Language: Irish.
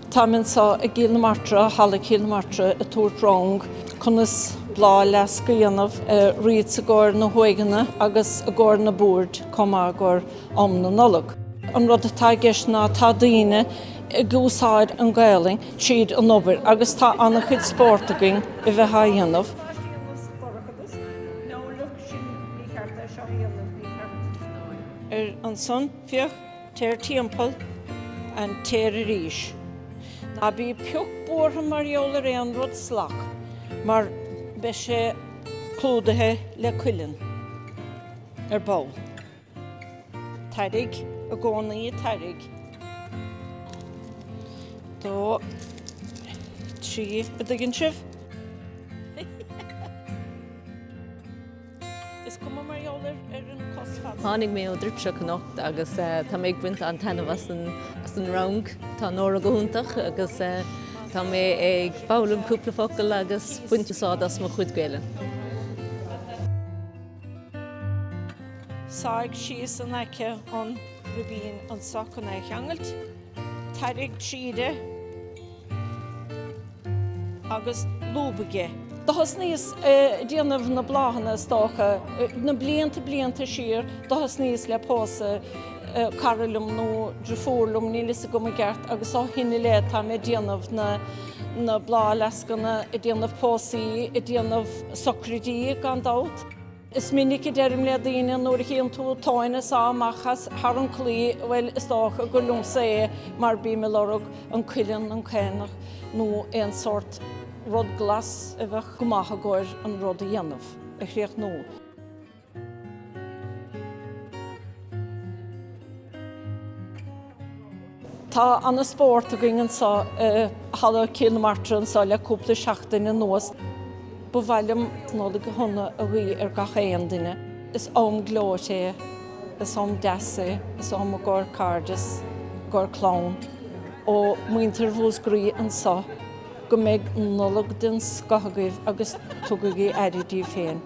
Táim anso i gCíll na Martra, Halla Chíll na Martra, ag tabhairt rang. Conas bláthfhleasc a dhéanamh, wreaths i gcomhair na huaigeanna agus i gcomhair na mboird comh maith i gcomhair am na Nollag. An rud atá i gceist ná tá daoine ag úsáid an Gaelainn tríd an obair agus tá ana-chuid spórt againn a bheith á dhéanamh. Ar an son, féach. Téir timpeall air, téir arís. Ná bí pioc buartha mar gheall ar aon rud slack mar beidh sé clúdaithe le cuileann ar ball. Tarraig i gcónaí, tarraig, dó, trí, an dtuigeann sibh. Is cuma mar gheall ar an cos fada. Tháinig mé ón Druipseach anocht agus tá mé ag baint an-taitneamh as an rang. Tá Nóra go hiontach agus tá mé ag foghlaim cúpla focal agus baint úsáid as mo chuid Gaelainne. Sáigh é síos in aice an ribín anso cun é a cheangailt. Tarraig tríd é. agus lúb aige. Do thosnaíos a' déanamh na bláthanna is dócha, na blianta blianta siar, do thosnaíos le pósadh cara liom nó driofúr liom, níl 'fhios agam i gceart agus ó shin i leith táim a' déanamh na, na bláthfhleascanna, a' déanamh póstaí, a' déanamh socraidí gan dabht. Is minic a deirim le daoine nuair a chíonn tú tóin ag sá amach thar an claí, bhuel, is dócha gur liomsa é mar bím ag lorg an cuileann, an caonach nó aon sórt rud glas a bheadh go maith i gcomhair an rud a dhéanamh, a chríochnú. Tá ana spórt againn anso i Halla Cill na Martra anso le cúpla seachtain anuas. Ba mhaith liom Nollaig shona a ghuí ar gach aon duine. Is am gleoite é, is am deas é, is am i gcóir cairdeas, i gcóir clann. Ó, muintir Mhúscraí anso, go mbeidh Nollaig den scoth agaibh agus tugaigí aire díbh féin.